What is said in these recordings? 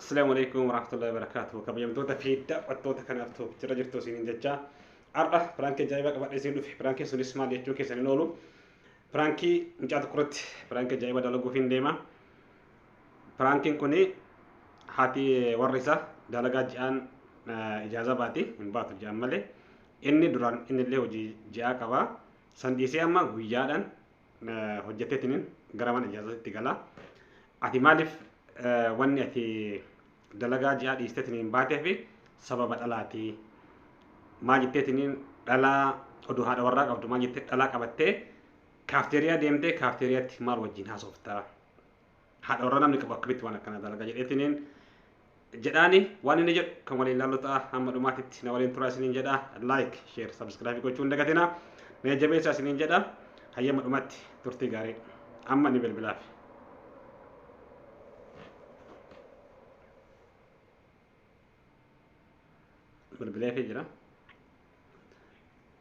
Assalaamu alaikum warahmatullahi wabarakatuh. Kabajamtoota fi daawwattoota kanaaf ta'u jira jirtu isiniin jecha har'a piraankii ajaa'ibaa qabadhee isin dhufe. Piraankiin sunis maal jechuun keessan hin oolu. Piraankii mucaa tokko irratti piraankii ajaa'ibaa dalaguuf hin deema. Piraankiin kun haati warri isaa dalagaa ji'aan ijaazaa baati hin baatu ji'aan malee inni duraan inni illee hojii ji'aa qaba. San dhiisee amma guyyaadhaan hojjetteetiin gara mana ijaazatitti gala. Ati maaliif wanni ati dalagaa ji'aa dhiisteetiin baatee fi sababa dhalaati. Maal jetteetiin dhalaa oduu haadha warraa qabdu maal jettee dhalaa qabattee kaafteeriyaa deemtee kaafteeriyaatti maal wajjin haasoftaa. haadha warra namni qabu akkamitti waan akkana dalaga jedheetiniin jedhaani waan inni jedhu kan waliin ilaallu ta'a hamma dhumaatitti na waliin turaa isiniin jedha laayik sheer sabskraabii gochuu hin dagatina na jabeessaa isiniin jedha hayyama dhumatti turtii gaarii amma ni bilbilaaf. bilbileefii jira.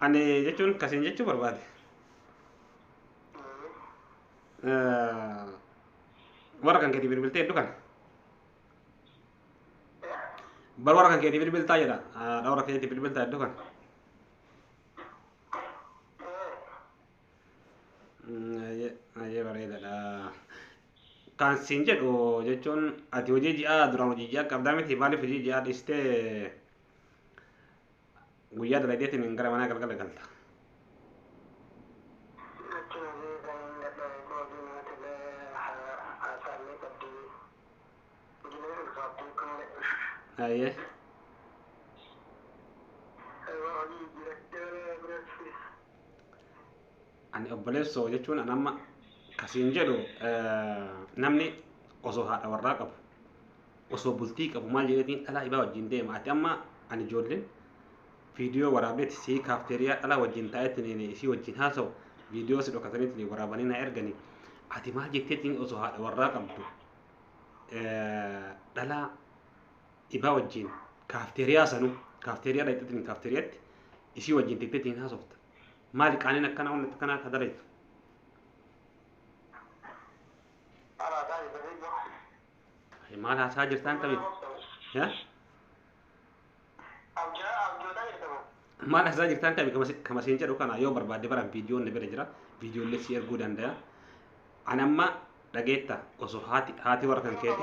Ani jechuun kasiin jechuu barbaade. Eh, Warra kan keetii bilbiltee hedduu kana. Bar warra kan keetii bilbiltaa jedha. Haadha warra keetii bilbiltaa hedduu kana. Baay'ee bareedaadha. Kan siin jedhu jechuun ati hojii ji'aa duraan hojii ji'aa qabdaa miti maaliif hojii ji'aa dhiistee guyyaa dalageetiin gara manaa galgala galta. Baay'ee. Ani obboleessoo jechuun an amma kasiin jedhu namni osoo haadha warraa qabu osoo bultii qabu maal jedheetiin dhalaa ibaa wajjin deema ati amma ani ijoolleen viidiyoo waraabdeeti sii kaafteeriyaa dhalaa wajjin taa'eetiin isii wajjin haasa'u viidiyoo si dhokataniitiin waraabanii na erganii ati maal jetteetiin osoo haadha warraa qabdu dhalaa ifaa wajjin kaafteeriyaa sanuu kaafteeriyaa dhaqxeetiin kaafteeriyatti isii wajjin teetteetiin haasofta maali qaaniin akkanaa humna akkanaa akka dalaytu maal haasaa jirtaan tabeef maal haasaa jirtaan tabe kama siin jedhu kana yoo barbaadde baran viidiyoon na bira jira viidiyoollee si erguu danda'a an amma dhageetta osoo haati haati warra kan keeti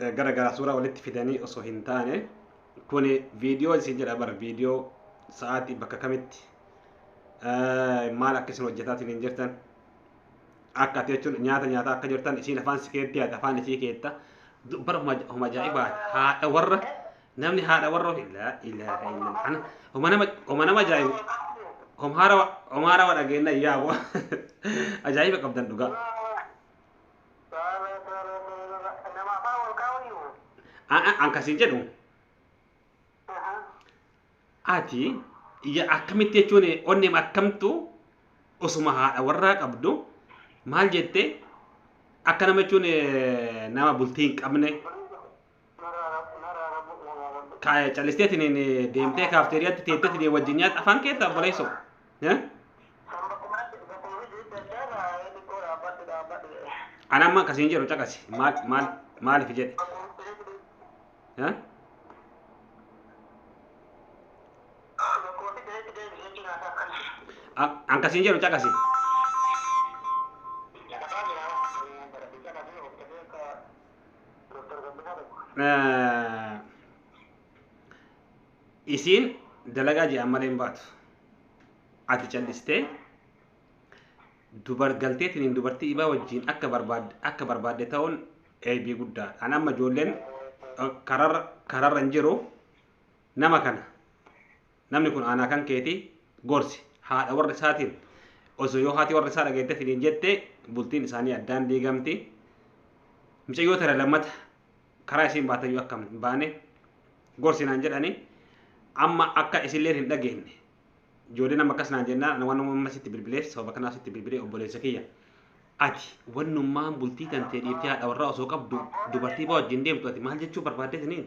eh, gara garaa suuraa walitti fidanii osoo hin taane kuni viidiyoo isin jedha bara viidiyoo sa'aatii bakka kamitti eh, maal akka isin hojjetaatiin hin jirtan akka ati jechuun nyaata nyaataa akka jirtan isiin afaan si keetti yaada afaan isii keetta Du- bara homa homa ajaa'ibaa haadha warra namni haadha warra ofii ilaa ilaa ilaa ana homa nama homa nama ajaa'ibu homa haarawa homa haarawa dhageenna yaa bo ajaa'iba qabdan dhugaa Akkasii jedhu ati akkamitti jechuun onneem akkamtu osuma haadha warraa qabdu maal jette akka nama jechuun nama bultii hin qabne Kaaya callisteetiin hin deemtee kaafteeriyaatti teetteetiin hin wajjin nyaata afaan keessa obboleessoo. Eh? Ana amma akkasiin jedhu caqasi maal maal maaliif jedhe. Eh? An- An akkasiin jedhu caqasi. Doktar Gammadaa Laggoo. isiin dalagaa jedhan malee hin baatu. Ati callistee dubar galteetiin hin dubartii ibaa wajjin akka barbaadde akka barbaadde ta'uun eebii guddaa. An amma ijoolleen eh, kararra kararra hin jiru nama kana Namni kun aanaa kan keeti gorsi. Haadha warra isaatiin osoo yoo haati warra isaa dhageette finiin jette bultiin isaanii addaan diigamti. Mucayyoo tana lammata karaa isiin baatayyuu akka hin baane gorsi naan jedhani amma akka isilleen hin dhageenye. Ijoollee nama akkas naan jennaan ana waan amma sitti bilbileef sababa kanaaf sitti bilbilee obboleessa kiyya. Ati wannummaan bultii tantee dhiiftee haadha warraa osoo qabdu dubartii baa wajjin deemtu ati maal jechuu barbaadde isiniin?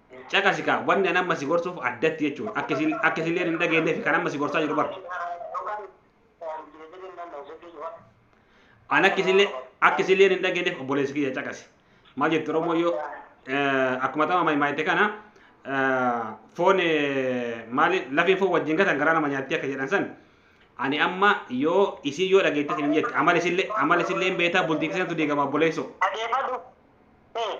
Caqasi kaa wanni an amma si gorsuuf addatti jechuudha. Akka isin akka isilleen hin dhageenyeef kan amma si gorsaa jiru bara. An akka isillee akka isilleen hin dhageenyeef obboleessi kiyya caqasi. Maal jettu Oromoo yoo eh, akkuma tama maayimaayitte kana eh, foon eh, maali lafeen foon wajjin gatan garaa nama nyaatti akka jedhan san ani amma yoo isin yoo dhageette isin hin jette amala isillee amala isillee hin beektaa bultii keessantu diigama obboleessoo. Adeefadhu. Ee.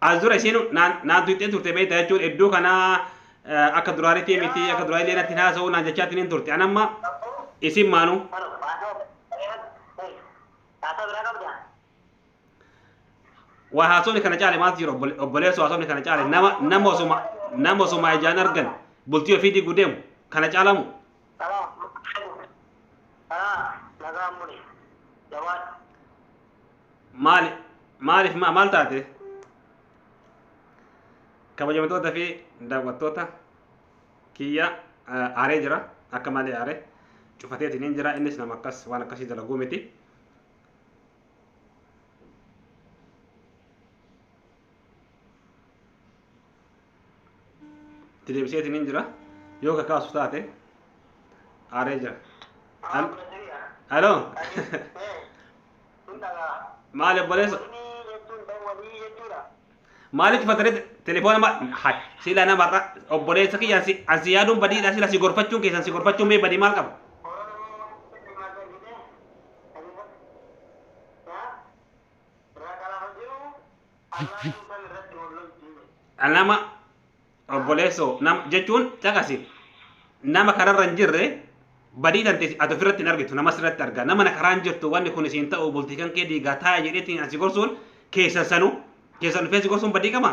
As dura isheen naan tuqxee turte beektaa jechuun iddoo kana akka duraanitii miti akka duraa illee natti haasa'uu naan jechaatiin hin turte. An amma isin maanu. Waa haasofni kana caale maaltu jira obboleessu haasofni kana caale nama nama osuma nama osuma ijaan argan bultii ofii digu deemu kana caalamu. maali maaliif maa maal taate kabajamtoota fi daawwattoota kiyya eh, aaree jira akka malee aaree cufateetiin hin jira innis nama akkas waan akkasii dalaguu miti itti deebiseetiin hin jira yoo ka kaasu taate aaree jira Al- aloo maali obboleessa maalitti fataree telefoona ma hay siila namarra obboleessa kiyya ansi ansi yaaduun badiidha siila si gorfachuun keessan si gorfachuun mee badii maal qaba nama obboleessoo nama jechuun caqasi nama kararra hin jirre badii tante ati ofirratti hin argitu nama sirratti arga nama na karaa hin jirtu wanni kun isiin ta'u bultii kan kee diigaa taa'e jedheetiin asi gorsuun keessan sanu keessan dhufee si gorsuun badii qaba.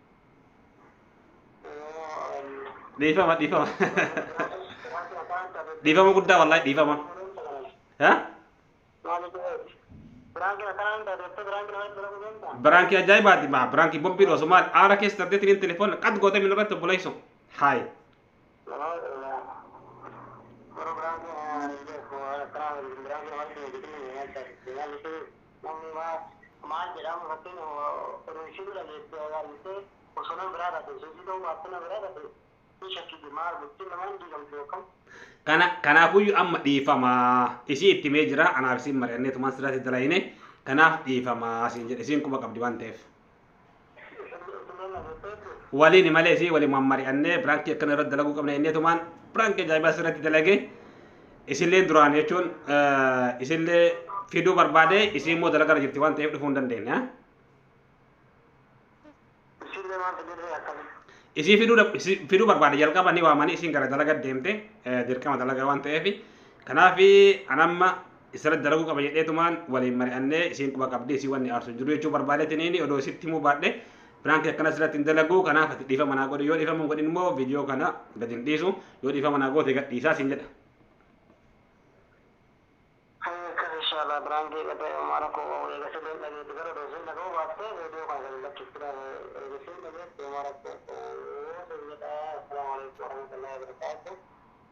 dhiifama dhiifama dhiifama guddaa wallahi dhiifama ha biraankii ajaa'ibaati maa biraankii bombiin osoo maal aara keessa dardeetiin telefoon qad gootee min irratti obboleessu haayi Kana kanaafuyyu amma dhiifama isii itti mee jira anaaf isiin mari'anneetumaan sirraatti dalayne kanaaf dhiifama siin jedhe isiin quba qabdi waan ta'eef. waliin malee isii waliin waan mari'annee piraankii akkana irratti dalaguu qabna jennee tumaan piraankii ajaa'ibaa asirratti dalage isilleen duraan jechuun isillee fiduu barbaade isii immoo dalagaa irra jirti waan ta'eef dhufuu hin dandeenye. Isillee waan fidurree akkami. Isii fiduu dab- isii fiduu barbaade jalqaba ni waamanii isiin gara dalagaa deemte dirqama dalagaa waan ta'eef kanaaf anamma isirratti dalaguu qaba jedheetumaan waliin mari'annee isiin quba qabdii isii wanni aarsu hin jiru jechuu barbaadeetiniini odoo isitti himuu baadhe piraanki akkanas irratti hin dalagu kanaaf ati dhiifama naa godhi yoo dhiifama hin godhin immoo viidiyoo kana gad hin dhiisu yoo dhiifama naa goote gad dhiisaa siin jedha. Hayyakas inshallah biraangii dhabee maara koo wawwee gasa deen dhageetti gara doosiin dhaga'uu baattee viidiyoo kana gadi lakkifti eegisiin dhageetti maara koo wawwee jedha assalaamu alaikum warahmatullahi wabarakatuh.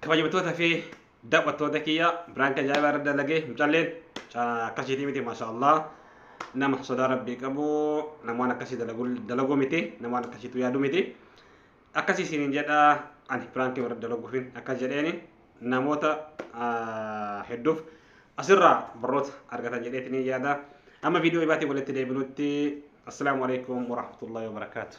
kabajamtoota fi daawwattoota kiyya biraan kan jaa'ibaa irra dalage mucalleen akkasiitii miti maasha Allah nama sodaa rabbii qabu namoon akkasii dalaguu miti namoon akkasiitu yaadu miti akkasii isiniin jedha ani biraankii warra dalaguufin akkas jedheeni namoota hedduuf asirraa barroota argatan jedheetini yaada amma viidiyoo ibaatiin walitti deebinutti assalaamu alaikum warahmatullahi wabarakaatu